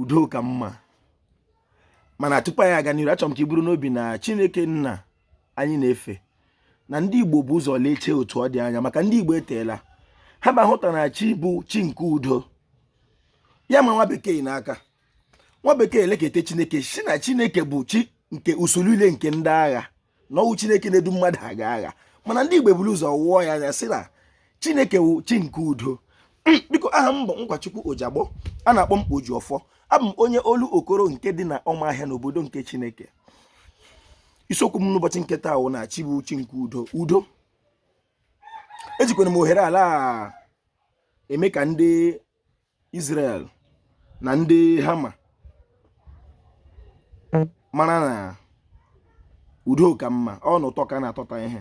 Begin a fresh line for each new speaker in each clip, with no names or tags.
udo ka mma mana tupu anyị aga n'iru achọrọ m ka i buru n'obi na Chineke nna anyị na-efe na ndị Igbo bu ụzọ leechee otu ọ dị anya maka ndị Igbo eteela ha na-ahụta na chi bụ chi nke udo ya ma nwa bekee n'aka nwa bekee elekete Chineke sị na Chineke bụ chi nke usuu niile nke ndị agha na ọ wụ chineke na-edu mmadụ aga agha mana ndị igbo buru ụzọ wụọ ya anya sị na chineke wụ chi nke udo biko aha m bụ nkwachukwu ojagbọ a na-akpọ m oji ọfọ abụ m onye olokoro nke dị na ọmahịa n'obodo nke chineke isiokwu m n'ụbọchị nke taa wụ na chi bụ chi nke udo udo ejikwara m ohere ala eme ka ndị Israel na ndị Hama mara na udo ka mma ọnụ ụtọ ka na-atọta ihe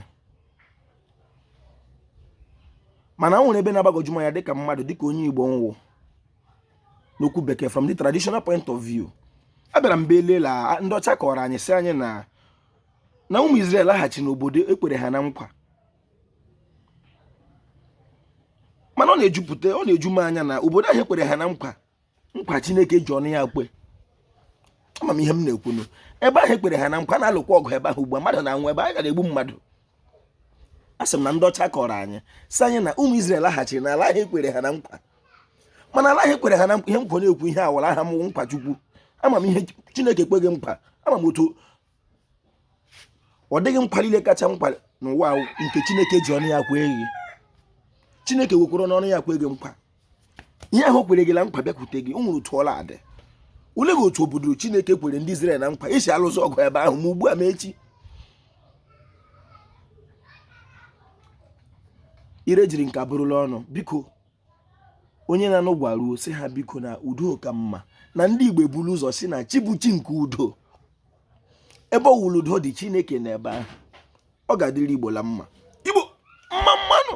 mana o nwere ebe na-agbagwoju m anya dịka mmadụ dịka onye Igbo m wụ n'okwu bekee from the traditional point of view abịara m belela ndị ọcha kọrọ anyị sị anyị na na ụmụ Israel laghachi n'obodo e kwere ha na nkwa mana ọ na-ejupụta ọ na-eju m anya na obodo ahụ e kwere ha na nkwa nkwa chineke ji ọnụ ya kwe ama m ihe m na-ekwunu ebe ahụ e kwere ha na nkwa a na-alụkwa ọgụ ebe ahụ ugbu a mmadụ na-anwụ ebe anyị gara egbu mmadụ asị m na ndị ọcha kọrọ anyị sị anyị na ụmụ Izrel laghachiri na ala ahụ e kwere ha na nkwa mana ala ahụ e kwere ha na nkwa ihe nkwa na-ekwu ihe awara aha m Nkwachukwu ama m ihe Chineke kwe gị nkwa ama m otu ọ dị gị nkwa niile kacha nkwa n'ụwa nke chineke ji ọnụ ya kwe gị chineke wekwara n'ọnụ ya kwe gị nkwa ihe ahụ o kwere gị na nkwa bịakwute gị o nwere otu ọ la-adị ole gị otu obodo chineke kwere ndị Izrel na nkwa e si alụsị ọgụ ebe ahụ ma ugbu a ma echi ire jiri nka bụrụla ọnụ biko onye na-anụ gwaruo sị ha biko na udo ka mma na ndị igbo ebula ụzọ sị na chi bụ chi nke udo ebe ọ wụla udo dị chineke nọ ebe ahụ ọ ga-adịrị igbo la mma igbo mma mma nụ